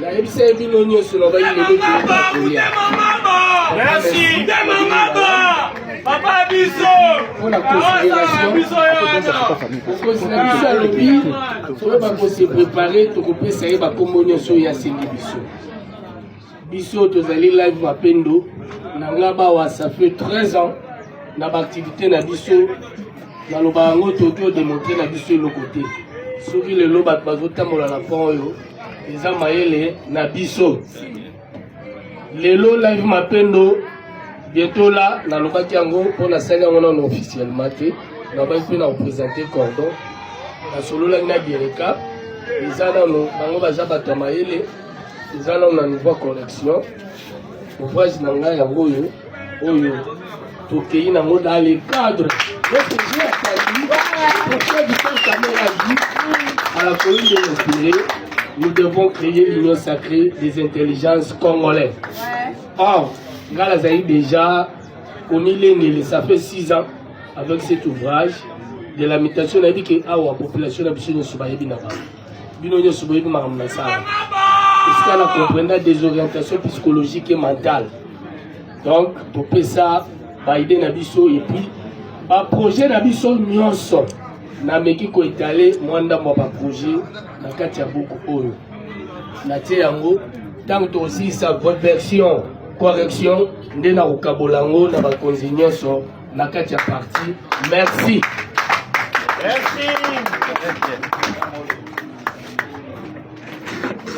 nayebisa ye bino nyonso na bayinekolia merci nde mamaba papa biso mpona considération biso alobi soki bakose prépare tokopesa ye bakombo nyonso oyo asengi biso biso tozali live mapendo na nga bawa ça fait 13 ans na baaktivité na biso naloba yango toki odemontre na biso eloko te soki lelo bato bazotambola na pont oyo eza mayele na biso lelo live mapendo bientôt la nalobaki yango mpo nasali yango nano officiellement te nabaki mpe na kopresente cordon nasololaki na gereka eza nano bango baza bato ya mayele eza nano na niveau correction ouvrage na ngai yango oyo oyo tokei nango dans le cadre notre vieux Katumbi pourquoi du temps Kamerhe a dit à la commune de Montpellier nous devons créer l'union sacrée des intelligences congolais or ngai nazali déjà komilengele ça fait 6 ans avec cet ouvrage de la mutation nayebi ke awa population na biso nyonso bayebi na bango bino nyonso boyebi makambo na sala esika na comprenda desorientation psychologique et mentale donc topesa baide na biso epuis baprojet na biso nyonso nameki koetale mwa ndambo ya baprojet na kati ya buku oyo natie yango ntango tokosilisa version correction nde nakokabola yango na bakonzi nyonso na kati ya parti merci merci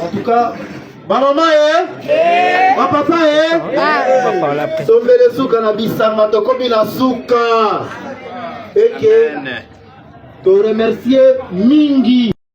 en tout cas bamama ye eh? bapapa ye eh? ah. tombele suka na bisanga tokomi na suka eke toremercie mingi